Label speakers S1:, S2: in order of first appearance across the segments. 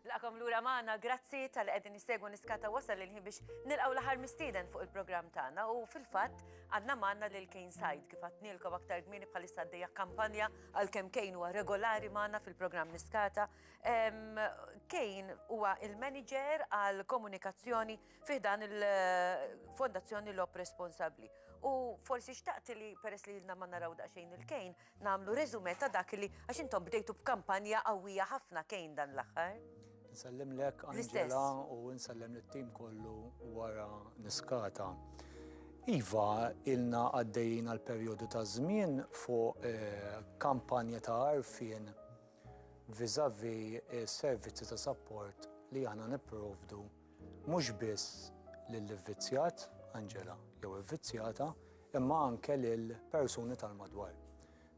S1: Nilqakom lura magħna, grazzi talli qegħdin issegwu Niskata wasal il-ħin biex nilqgħu l-aħħar mistieden fuq il-programm tagħna u fil-fatt għandna magħna lil Kane Said kif għadtnielkom aktar kmieni bħalissa għaddejja kampanja għalkemm Kane huwa regolari magħna fil-programm Niskata. Kane huwa il-manager għal komunikazzjoni fih dan il-Fondazzjoni Lop Responsabbli. U forsi xtaqt li peress li ilna ma naraw daqsxejn il-Kane, Nagħmlu reżumè ta' dak li għax intom bdejtu b'kampanja qawwija ħafna kejn dan l-aħħar. Nsellimlek
S2: Angela u nsellem lit-tim kollu wara niskata. Iva, ilna għaddejjin għal perjodu ta' żmien fuq eh, kampanja ta' arfin vizavi eh, servizzi ta' support li aħna nipprovdu Mhux biss lill-ivvizzjat, Angela, jew ivvizzjata, imma anke lil persuni tal-madwar.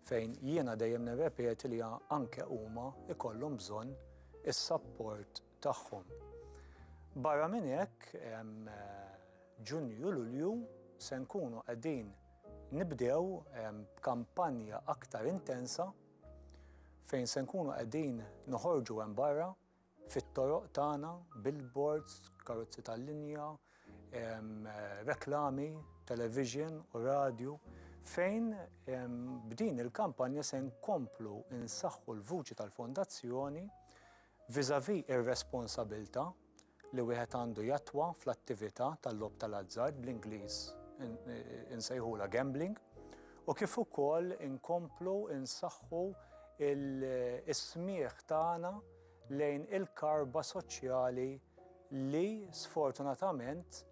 S2: Fejn jiena dejjem nirrepeti li anke huma ikollhom bżonn is-sapport tagħhom. Barra minn hekk, Ġunju Lulju se nkunu qegħdin nibdew b'kampanja aktar intensa fejn se nkunu qegħdin noħorġu hemm barra fit-toroq tagħna, billboards, karozzi tal-linja, reklami, television u radju, fejn b'din il-kampanja se nkomplu nsaħħu l-vuċi tal-Fondazzjoni vis-à-vis ir-responsabilità li wieħed għandu jattwa fl-attività tal-logħob tal-azzard bl-Ingliż insejħula gambling u kif ukoll inkomplu nsaħħu is-smigħ tagħna lejn il-karba soċjali li sfortunatament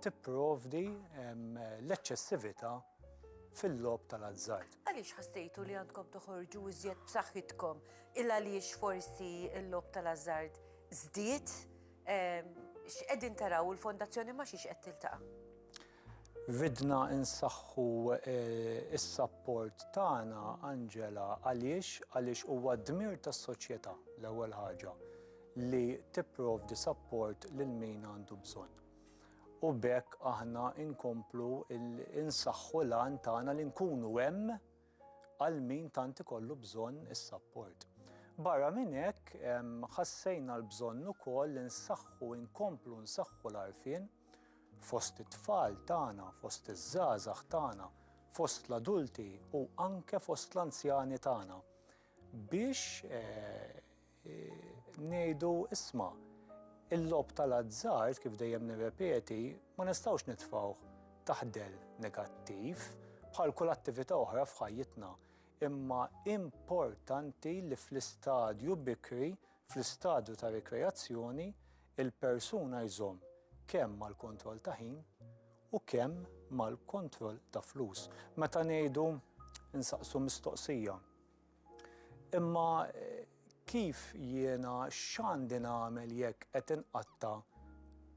S2: tipprovdi l-eċċessività fil-logħob tal-azzard. Għaliex ħassejtu li
S1: għandkom toħorġu iżjed b'saħħitkom il għaliex forsi l-logħob tal-azzard żdied? X'qegħdin taraw il-fondazzjoni ma' xiex qed tiltaqa'?
S2: Ridna nsaħħu s-sapport tagħna, Angela, għaliex? Għaliex huwa d-dmir tas-soċjetà, l-ewwel ħaġa, li tipprovdi sapport lil min għandu bżonn. U b'hekk aħna nkomplu nsaħħu l-għan tagħna li nkunu hemm għal min tant ikollu bżonn is-sapport. Barra minn hekk, ħassejna l-bżonn ukoll li nsaħħu, inkomplu nsaħħu l-għarfien, Fost it-tfal tagħna, fost iż-żgħażagħ tagħna, fost l-adulti u anke fost l-anzjani tagħna biex eh, ngħidu isma' il-lob tal-azzard kif dejjem nirrepeti ma nistgħux nitfgħuh taħdel negattiv bħal kull attività oħra f'ħajjitna imma importanti li fl-istadju bikri Fl-istadju ta' rikreazzjoni, il-persuna jżomm kemm mal-kontroll ta' ħin u kemm mal-kontroll ta' flus. Meta ngħidu nsaqsu mistoqsija, imma kif jiena x'għandi nagħmel jekk qed inqatta'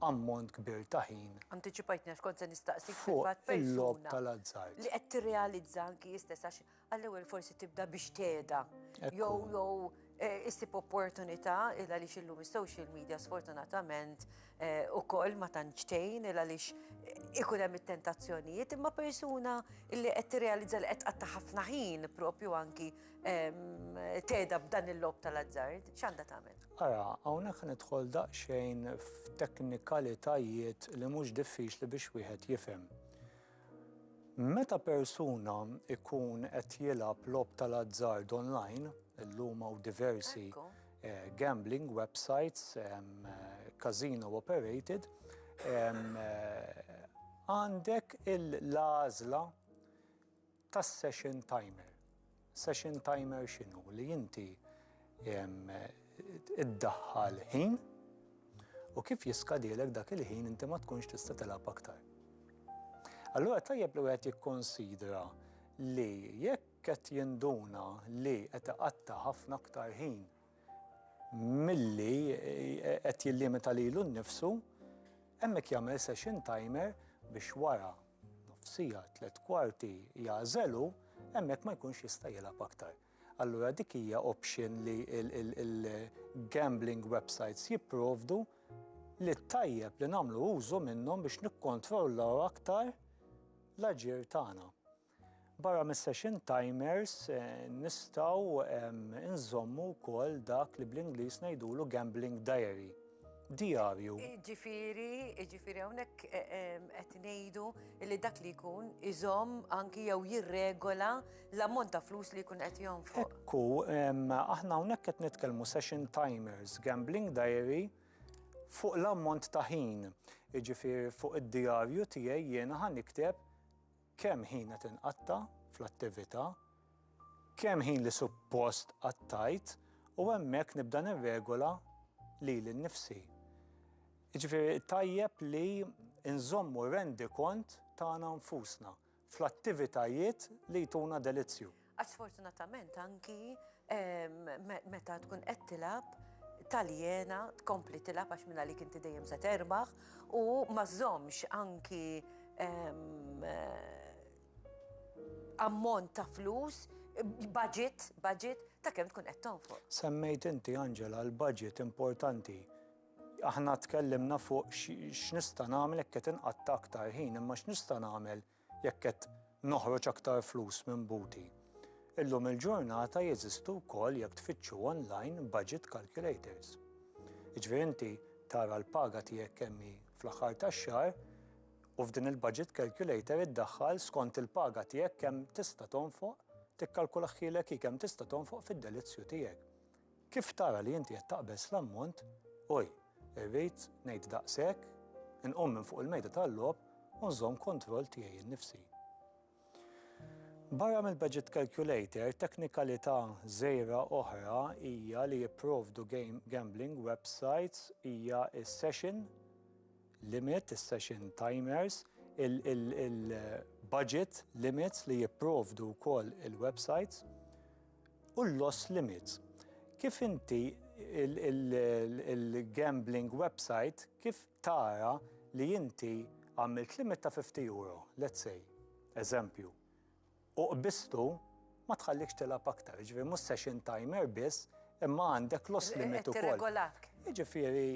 S2: ammont kbir ta' ħin. Antiċipajtni għax kont se
S1: nistaqsik fil-fatt persuna. Fuq il-logħob
S2: tal-azzard. Li qed tirrealizza
S1: anki hi stess għax Għall-ewwel forsi tibda biex teda. Jow, jow, eh, issib opportunità il għaliex illum is-social media sfortunatament eh, ukoll ma tantxtejn il għaliex eh, ikun hemm it-tentazzjonijiet imma persuna illi qed tirrealizza li qed qatta' ħafna ħin propju anki ehm, teda b'dan il-lob tal-azzard, x'għandha tagħmel? Ara, hawnhekk
S2: nidħol daqsxejn f'teknikalitajiet li mhux diffiċli biex wieħed jifhem. Meta persuna jkun qed jilgħab logħob tal-azzard online, illum hawn diversi gambling websites, casino operated, għandek l-għażla tas-session timer. Session timer x'inhu? Li inti iddaħħal ħin u kif jiskadilek dak il-ħin inti ma tkunx tista' tilgħab aktar. Allura tajjeb li wieħed jikkonsidra li jekk qed jinduna li qed iqatta' ħafna aktar ħin milli eh, qed jillimita lilu nnifsu, hemmhekk jagħmel session timer biex wara nofsija, tliet kwarti jagħżelu, hemmhekk ma jkunx jista' jilgħab aktar. Allura dik hija option li il-gambling websites jipprovdu li tajjeb li nagħmlu użu minnhom biex nikkontrollaw aktar l-aġir tagħna. Barra mis-session timers nistgħu nżommu wkoll dak li bl-Ingliż ngħidulu gambling diary. Diarju. Ġifieri,
S1: ġifieri hawnhekk e, e, qed ngħidu li dak li jkun iżomm anki jew jirregola l-ammont ta' flus li jkun qed jonfoq. Ekku,
S2: aħna hawnhekk qed nitkellmu session timers, gambling diary fuq l-ammont ta' ħin. Ġifieri fuq id-diarju tiegħi jiena ħan nikteb kemm ħin qed inqatta' fl-attività, kemm ħin li suppost qattajt u hemmhekk nibda nirregola lili nnifsi. Jiġifieri tajjeb li nżommu rendikont tagħna nfusna fl-attivitajiet li jtuna delizzju. Għax sfortunatament
S1: anki meta tkun qed tilab taljena tkompli tilab għax minna li kinti dejjem se terbaħ u ma żommx anki ammont ta' flus, budget, budget ta' kemm tkun qed tonfoq. Semmejt inti
S2: Angela l-budget importanti. Aħna tkellimna fuq x'nista' nagħmel hekk qed inqatta' aktar ħin, imma x'nista' nagħmel Jekk qed noħroġ aktar flus minn buti. Illum il-ġurnata jeżistu wkoll jekk tfittxu online budget calculators. Jiġifieri inti tara l-paga tiegħek kemm hi fl-aħħar tax-xahar u f'din il-budget calculator iddaħħal skont il-paga tiegħek kemm tista' tonfoq tikkalkulaħħielek hi kemm tista' tonfoq fid-delizzju tiegħek. Kif tara li inti qed taqbeż l-ammont, oj, irrid ngħid daqshekk, inqum minn fuq il-mejda tal-logħob u nżomm kontroll tiegħi nnifsi. Barra mill-budget calculator, teknikalità żgħira oħra hija li jipprovdu gambling websites hija s-session limit, is-session timers, il-budget limits li jipprovdu wkoll il-websites. u l-loss limits. Kif inti il-gambling website kif tara li inti għamilt limit ta' €50, let's say, eżempju, u qbiżtu ma tħallikx tilgħab aktar, jiġifieri mhux session timer biss imma għandek loss limit ukoll. Qed tirregolak. Jiġifieri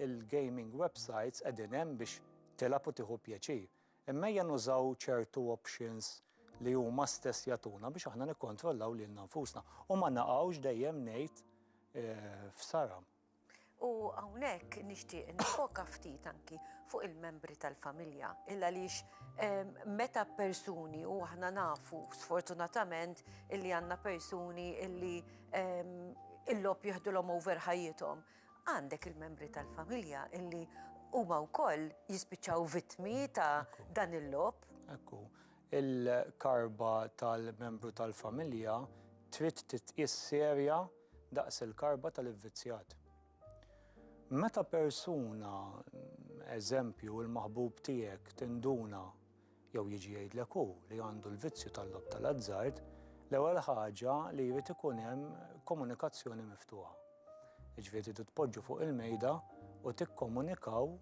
S2: il-gaming websites qegħdin hemm biex tilgħab u tieħu pjaċir. Imma ejja nużaw ċertu options li huma stess jagħtuna biex aħna nikkontrollaw lilna nfusna u ma naqgħux dejjem ngħid f'sara. U
S1: hawnhekk nixtieq nifoka ftit anki fuq il-membri tal-familja, il għaliex meta persuni u aħna nafu sfortunatament illi għandna persuni illi il-logħob jieħdulhom over ħajjithom. Għandek il-membri tal-familja illi huma wkoll jispiċċaw vittmi ta' dan il-lob. Ekku,
S2: il-karba tal-membru tal-familja trid titqis serja daqs il-karba tal-ivvizzjat. Meta persuna, eżempju, il-maħbub tiegħek tinduna jew jiġi jgħidlek hu li għandu l-vizzju tal-logħob tal-azzard, l-ewwel ħaġa li jrid ikun hemm komunikazzjoni miftuħa. Jiġifieri tridu tpoġġu fuq il-mejda u tikkomunikaw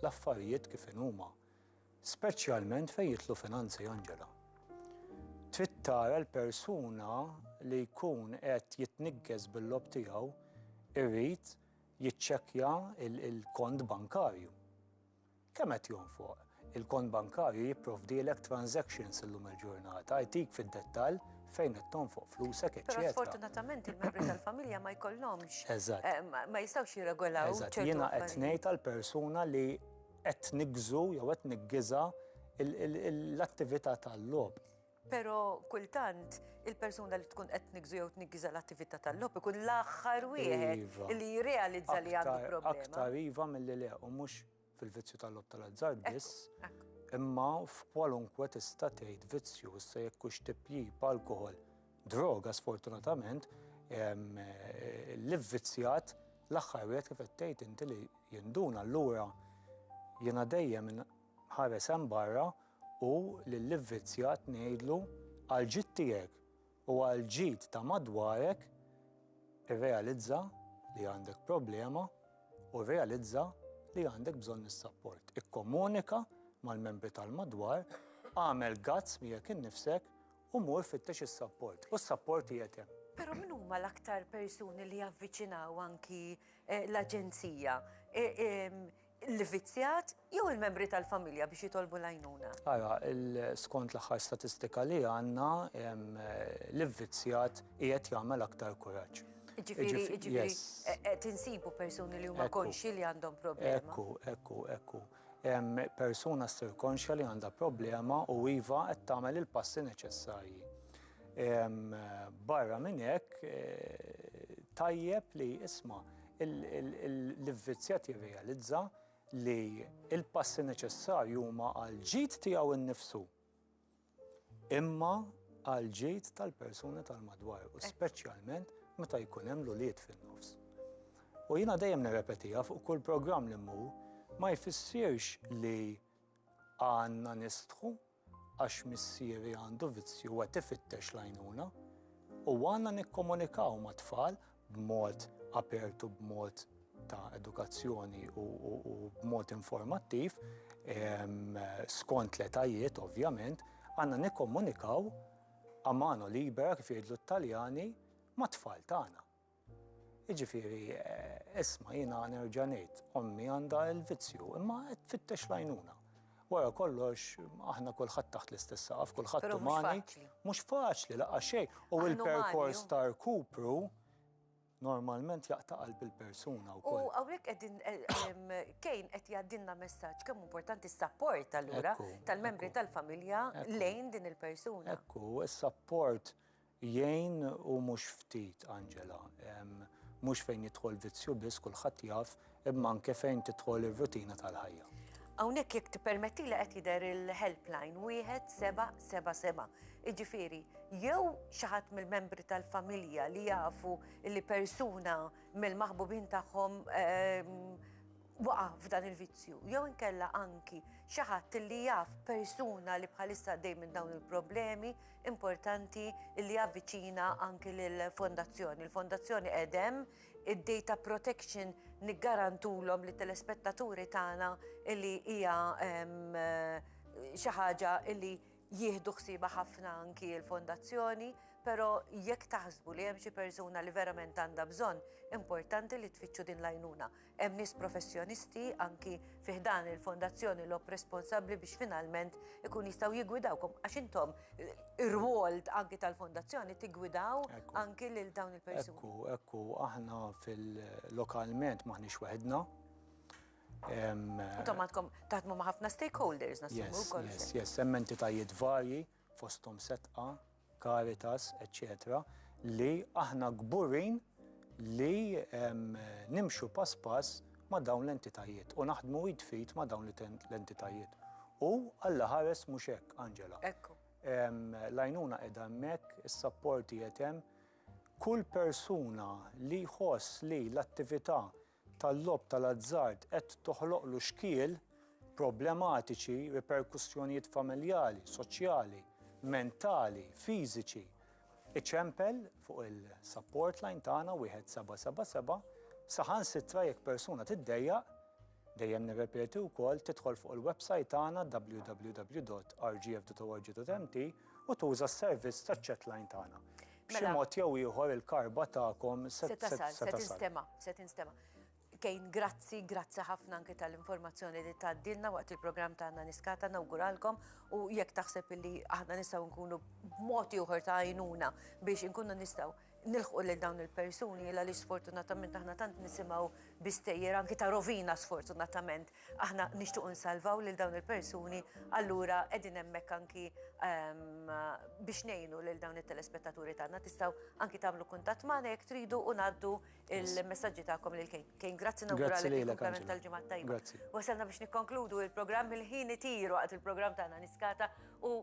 S2: l-affarijiet kif inhuma. Speċjalment fejn jidħlu finanzi, Angela. Trid tara l-persuna li jkun qed jitniggez bil-logħob tiegħu jrid jiċċekkja l-kont bankarju. Kemm qed jonfoq? Il-kont bankarju jipprovdielek transactions illum il-ġurnata, jtik fid-dettall fejn qed tonfoq flusek, eċċetera. Però sfortunatament
S1: il-membri tal-familja ma jkollhomx. Eżatt. Ma
S2: jistgħux
S1: jirregolaw. Eżatt, jiena qed
S2: ngħid għall-persuna li qed niggżu jew qed niggiżha l-attività tal-logħob. Pero
S1: kultant il-persuna li tkun qed nigżu jew tniggiża l-attività tal-lob ikun l-aħħar wieħed iva. li jirrealizza li għandu problema. Aktar iva mill-li
S2: le u mhux fil-vizzju tal-lob tal-azzard biss. Imma f'kwalunkwe tista' tgħid vizzju issa jekk hux tipjib alkohol, droga sfortunatament, li vvizzjat l-aħħar wieħed kif qed tgħid inti li jinduna allura jiena dejjem Ħares hemm barra u lill-ivvizzjat ngħidlu, Għall-ġid tiegħek u għall-ġid ta' madwarek, irrealizza li għandek problema u rrealizza li għandek bżonn is-sapport. Ikkomunika mal-membri tal-madwar, agħmel guts miegħek innifsek u mur fittex is-sapport. U s-sapport qiegħed hemm. Però min huma l-aktar
S1: persuni li javviċinaw anki l-Aġenzija? l-vizzjat jew il-membri tal-familja biex jitolbu l-għajnuna? Ara,
S2: skont l-aħħar statistika li għandna, l-vizzjat qiegħed jagħmel aktar kuraġġ. Ġifieri, ġifieri,
S1: e, e, tinsibu persuni li huma konxi li għandhom problema. Ekku, ekku, ekku.
S2: Persuna ssir konxja li għandha problema u iva qed tagħmel il-passi neċessarji. Barra minn hekk e, tajjeb li isma' L-ivvizzjat jirrealizza li l-passi neċessarji huma għal ġid tiegħu nnifsu imma għal ġid tal-persuni tal-madwar u speċjalment meta jkun hemm l-ulied fin-nofs. U jiena dejjem nirrepetiha fuq kull programm li mmur ma jfissirx li għandna nistħu għax missieri għandu vizzju u qed ifittex l-għajnuna u għandna nikkomunikaw mat-tfal b'mod apert u b'mod ta' edukazzjoni u b'mod informattiv skont l-etajiet ovvjament, għandna nikkomunikaw a mano libera kif jgħidlu t-Taljani mat-tfal tagħna. Jiġifieri, isma' jiena nerġa' ngħid, ommi għandha l-vizzju, imma qed tfittex l-għajnuna. Wara kollox, aħna kulħadd taħt l-istess saqaf, kulħadd umani. Mhux faċli, laqgħa xejn. U l-perkors ta' rkupru normalment jaqta' qalb il-persuna wkoll. U hawnhekk qegħdin eh,
S1: kejn qed jgħaddilna messaġġ kemm importanti s-sapport allura tal-membri tal-familja lejn din il-persuna. Ekku, s-sapport
S2: Jgħin u mhux ftit, Angela. Mhux fejn jidħol vizzju biss, kulħadd jaf, imma anke fejn tidħol ir-rutina tal-ħajja. Hawnhekk jekk
S1: tippermettili qed jidher il-helpline wieħed seba' seba' seba'. Jiġifieri, jew xi ħadd mill-membri tal-familja li jafu li persuna mill-maħbubin tagħhom waqa' f'dan il-vizzju jew inkella anki xi ħadd li jaf persuna li bħalissa għaddej minn dawn il-problemi importanti li avviċina anki lill-fondazzjoni. Il-fondazzjoni edem id-data protection niggarantulhom li telespettaturi tagħna li hija xi ħaġa li jieħdu ħsiba ħafna anki l-fondazzjoni, pero jekk taħsbu li hemm xi persuna li verament għandha bżonn, importanti li tfittxu din l-għajnuna. Hemm nies professjonisti, anki fi ħdan il-Fondazzjoni Lob responsabbli biex finalment ikun jistgħu jiggwidawkom għax intom ir-rwol anki tal-Fondazzjoni tiggwidaw anki lil dawn il-persuni. Ekku, ekku, aħna
S2: fil-lokalment maħniex weħedna.
S1: Intom għandkom taħdmu ma' ħafna stakeholders nasu wkoll. Yes, yes, hemm entitajiet
S2: varji. fosthom Setqa, Caritas, eċċetera li aħna kburin li nimxu pass pass ma' dawn l-entitajiet u naħdmu id f'id ma' dawn l-entitajiet. U Alla ħares mhux hekk, Angela. Ekku.
S1: L-għajnuna
S2: qiegħda hemmhekk, is-sapporti qed hemm. Kull persuna li jħoss li l-attività tal-logħob tal-azzard qed toħloqlu xkiel, problematiċi, riperkussjonijiet familjali, soċjali, mentali, fiżiċi. Iċempel fuq il-support line tagħna 1777 saħansitra jekk persuna tiddejjaq Dejjem nirrepeti wkoll tidħol fuq il-website tagħna www.rgf.org.mt u tuża s-servizz taċ-chat line tagħna. B'xi Mela- mod jew ieħor il-karba tagħkom se Se tasal, se se tasal. tinstema, se
S1: tinstema. Kejn, grazzi, grazzi ħafna anke tal-informazzjoni li tgħaddilna waqt il-programm tagħna niskata nawguralkom u jekk taħseb illi aħna nistgħu nkunu b'mod ieħor ta' għajnuna biex inkunu nistgħu nilħqu lil dawn il-persuni illa li sfortunatament aħna tant nisimgħu bistejjer anke ta' rovina sfortunatament Aħna nixtiequ nsalvaw lil dawn il-persuni, allura qegħdin hemmhekk anki biex ngħinu lil dawn it-telespettaturi tagħna. Tistgħu anki tagħmlu kuntatt magħna jekk tridu u ngħaddu il-messaġġi tagħkom lil Kejn. Kejn, grazzi nawguralek il-kumplament tal-ġimgħa tajba. Wasalna biex nikkonkludu il-programm il-ħin itiru waqt il-programm tagħna niskata u